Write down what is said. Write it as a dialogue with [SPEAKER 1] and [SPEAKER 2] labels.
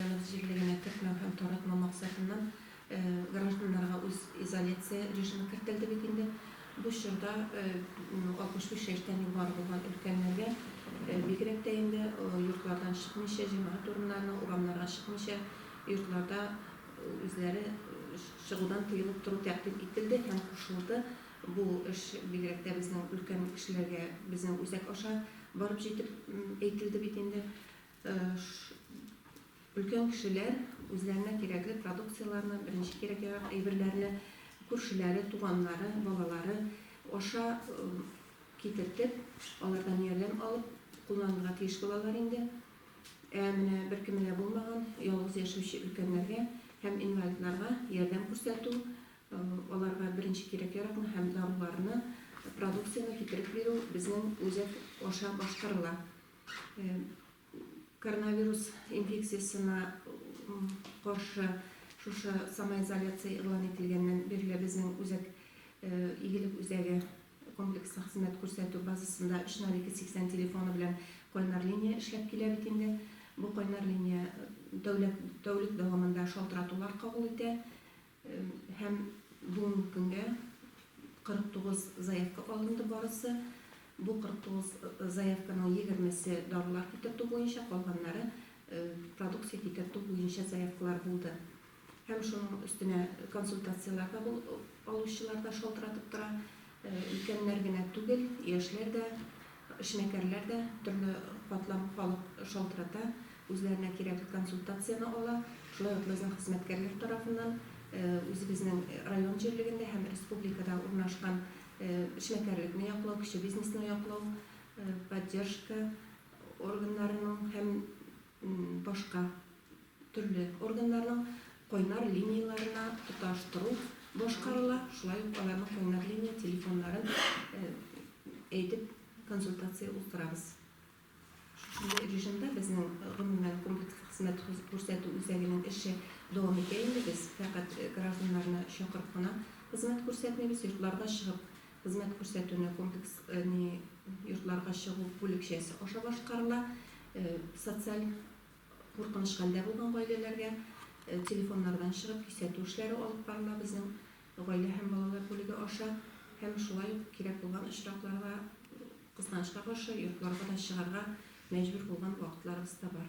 [SPEAKER 1] Җәмәгать эшлеклегенә кертмәү һәм таратмау максатыннан гражданнарга үз изоляция режимы кертелде бит инде. Бу чорда 65 яшьтән югары булган өлкәннәргә, бигрәк тә инде йортлардан чыкмыйча, җәмәгать урыннарына, урамнарга чыкмыйча, йортларда үзләре чыгудан тыелып тору тәкъдим ителде һәм кушылды. Бу эш бигрәк тә безнең өлкән кешеләргә безнең үзәк аша барып җитеп әйтелде бит инде. Өлкән кешеләр үзләренә кирәкле продукцияләрне, беренче кирәк-ярак әйберләрне күршеләре, туганнары, балалары аша китертеп, алардан ярдәм алып кулланырга тиеш булалар инде. Ә менә беркеме дә булмаган, ялгыз яшәүче өлкәннәргә һәм инвалидларга ярдәм күрсәтү, аларга беренче кирәк-яракны һәм даруларны, продукцияне китереп бирү безнең үзәк аша башкарыла. Коронавирус инфекциясенә каршы шушы самоизоляция игълан ителгәннән бирле безнең үзәк Игелек үзәге комплекслы хезмәт күрсәтү базасында 30280 телефоны белән кайнар линия эшләп килә бит инде. Бу кайнар линия тәүлек дәвамында шалтыратулар кабул итә. Һәм бүгенге көнгә 49 заявка алынды барысы. Бу 49 заявканың егермесе дарулар китертү буенча, калганнары продукция китертү буенча заявкалар булды. Һәм шуның өстенә консультацияләр дә бу алучылар да шалтыратып тора. Өлкәннәр генә түгел, яшьләр дә Эшмәкәрләр дә төрле катлам халык шалтырата, үзләренә кирәкле консультацияне ала. Шулай ук безнең хезмәткәрләр тарафыннан үзебезнең район җирлегендә һәм республикада урнашкан эшмәкәрлекне яклау, кече бизнесны яклау поддержка органнарының һәм башка төрле органнарның кайнар линияләренә тоташтыру башкарыла, шулай ук аларның кайнар линия телефоннарын әйтеп консультация уздырабыз. Шушындый режимда безнең гомумән комплекс хезмәт күрсәтү үзәгенең эше дәвам итә инде, без фәкать гражданнарны чакырып кына хезмәт күрсәтмибез, йортларга чыгып Хезмәт күрсәтүне комплекс не йортларга чыгу бүлекчәсе аша башкарыла. Социаль куркыныч хәлдә булган гаиләләргә телефоннардан чыгып кисәтү эшләре алып барыла безнең гаилә һәм балалар бүлеге аша һәм шулай ук кирәк булган очракларда, кызганычка каршы, йортларга да чыгарга мәҗбүр булган вакытларыбыз да бар.